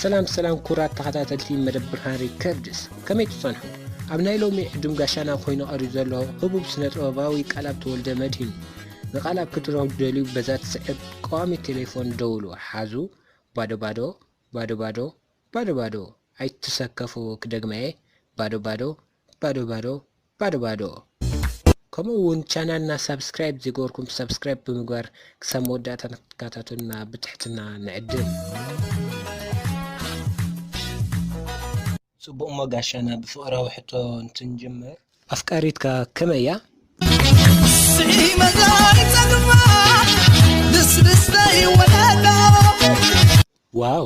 ሰላም ሰላም ኩራት ተኸታተልቲ መደብ ብርሃን ሪከርድስ ከመይ ትጸንሑ ኣብ ናይ ሎሚ ዕዱም ጋሻና ኮይኑ ቀሪቡ ዘሎ ህቡብ ስነ ጥበባዊ ቃላብ ተወልደ መድሂን ንቃላብ ክትረኽቡ ደልዩ በዛ ትስዕብ ቀዋሚ ቴሌፎን ደውሉ ሓዙ ባዶ ባዶ ባዶ ባዶ ባዶ ባዶ ኣይትሰከፉ ክደግመየ ባዶ ባዶ ባዶ ባዶ ባዶ ባዶ ከምኡ ውን ቻናልና ሳብስክራይብ ዘይገበርኩም ሳብስክራይብ ብምግባር ክሳብ መወዳእታ ንክትከታተሉና ብትሕትና ንዕድም። ጽቡቕ እሞ ጋሻና ብፍቕራዊ ሕቶ እንትንጅምር ኣፍቃሪትካ ከመይ እያ? ዋው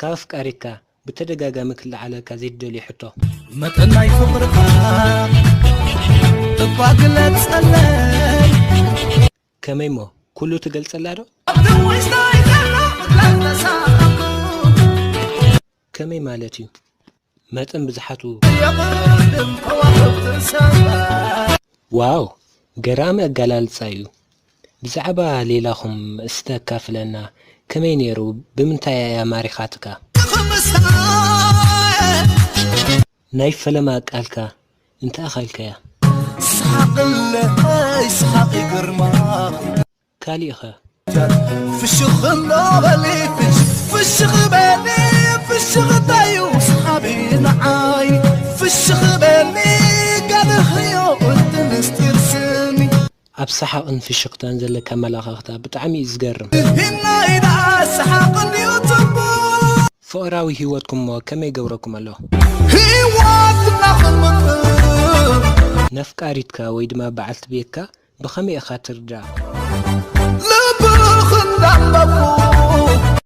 ካብ ኣፍቃሪካ ብተደጋጋሚ ክለዓለልካ ዘይትደልዮ ሕቶ። መጠን ናይ ፍቕርኻ እባ ግለጸለይ ከመይ እሞ ኩሉ ትገልጸላ ዶ? ከመይ ማለት እዩ? መጠን ብዝሓቱ የቕድም ከዋኽብቲ ሰማይ ዋው ገራሚ ኣጋላልጻ እዩ ብዛዕባ ሌላኹም እስቲ ኣካፍለና ከመይ ነይሩ ብምንታይ ኣያ ማሪኻትካ ክምሳየ ናይ ፈለማ ቃልካ እንተ ኣኸልካያ ስሓቕለይ ስሓቒ ግርማኺ ካሊእ ከ? ፍሽኽ እንዳበሊ ፍሽኽ በሊ ፍሽኽ እንታዩ ሰሓቢ ንዓይ ፍሽኽ በሊ ጋልኽዮ እቲ ምስጢር ስኒ ኣብ ሰሓቕን ፍሽኽታን ዘለኪ ኣመላኻኽታ ብጣዕሚ እዩ ዝገርም። ንህናይ ደኣ ሰሓቕ እንድዩ ጽቡቕ ፍቕራዊ ሂወትኩም'ሞ ከመይ ይገብረኩም ኣሎ? ሂወትና ክንምቅር። ነፍቃሪትካ ወይ ድማ በዓልቲ ቤትካ ብኸመይ ኢኻ ትርዳ?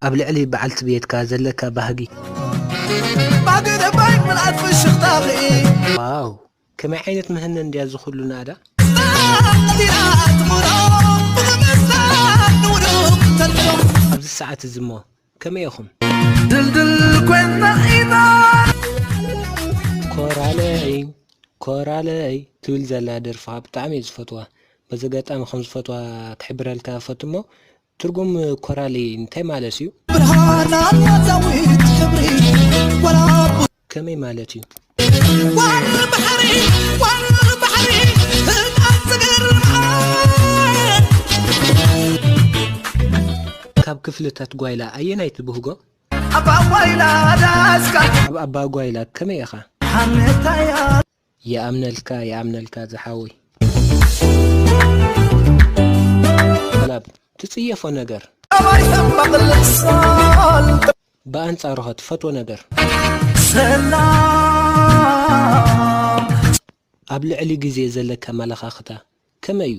ኣብ ልዕሊ በዓልቲ ቤትካ ዘለካ ባህጊ። ዋው ከመይ ዓይነት ምህነን ድያ እዚ ኩሉ ናእዳ። ኣብዚ ሰዓት እዚ እሞ ከመይ ኢኹም? ድልድል ኮይና ኢና ኮራለይ ኮራለይ ትብል ዘላ ደርፊ ከዓ ብጣዕሚ እየ ዝፈትዋ በዚ ኣጋጣሚ ከም ዝፈትዋ ክሕብረልካ ፈቱ እሞ ትርጉም ኮራለይ እንታይ ማለት እዩ ብርሃን ኣላ ዛዊት ሕብሪ ወላ ከመይ ማለት እዩ? ዋርሪ ባሕሪ ዋርሪ ባሕሪ ህድኣት ዝገርም ዓወት ካብ ክፍልታት ጓይላ ኣየናይ ትብህጎ? ኣብ ኣጓይላ ዳስካ ኣብ ኣባጓይላ ከመይ ኢኻ? ሓሜታያ ይኣምነልካ ይኣምነልካ ዝሓወይ። ኣላብ ትጽየፎ ነገር ብኣንጻሩኸ ትፈትዎ ነገር። ኣብ ልዕሊ ግዜ ዘለካ ኣመለኻኽታ ከመይ እዩ?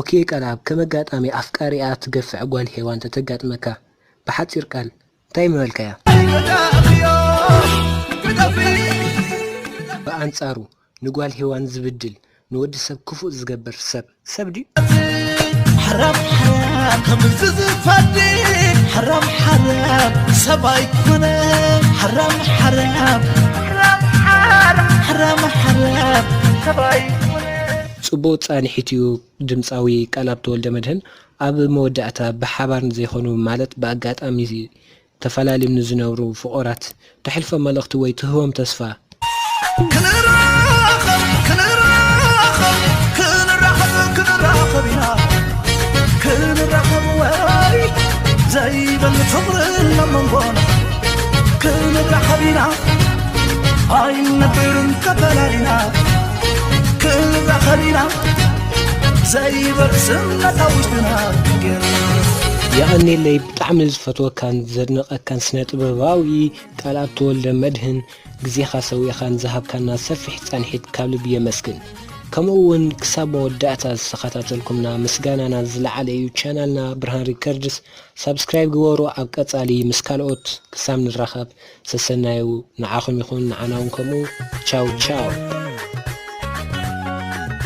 ኦኬ ቃልኣብ ከም ኣጋጣሚ ኣፍቃሪኣ ትገፍዕ ጓል ሄዋን ተተጋጥመካ ብሓጺር ቃል እንታይ ምበልካያ? ብኣንጻሩ ንጓል ሄዋን ዝብድል ንወዲ ሰብ ክፉእ ዝገብር ሰብ ሰብ ድዩ? ጽቡቕ ጻንሒት እዩ ድምጻዊ ቃልኣብ ተወልደመድህን ኣብ መወዳእታ ብሓባር ንዘይኮኑ ማለት ብኣጋጣሚ ተፈላልዮም ንዝነብሩ ፍቑራት ተሕልፎ መልእኽቲ ወይ ትህቦም ተስፋ ክንራኸብ ክንራኸብ ክንራኸብ ክንራኸብ ኢና ክንራኸብ ወራይ ዘይበል ፍቕሪ ናብ መንጎና ክንራኸብ ኢና ኣይንነብርን ተፈላሊና ክንራኸቢና ዘይበል ስምነታ ውሽጥና ገርና የቐኔለይ ብጣዕሚ ዝፈትወካን ዘድንቐካን ስነ ጥበባዊ ቃልኣብ ተወልደ መድህን ግዜኻ ሰዊእኻን ዝሃብካና ሰፊሕ ፃንሒት ካብ ልቢ የመስግን ከምኡ እውን ክሳብ መወዳእታ ዝተኸታተልኩምና ምስጋናና ዝለዓለ እዩ ቻናልና ብርሃን ሪከርድስ ሳብስክራይብ ግበሩ ኣብ ቀፃሊ ምስ ካልኦት ክሳብ ንራኸብ ሰሰናዩ ንዓኹም ይኹን ንዓና ውን ከምኡ ቻው ቻው።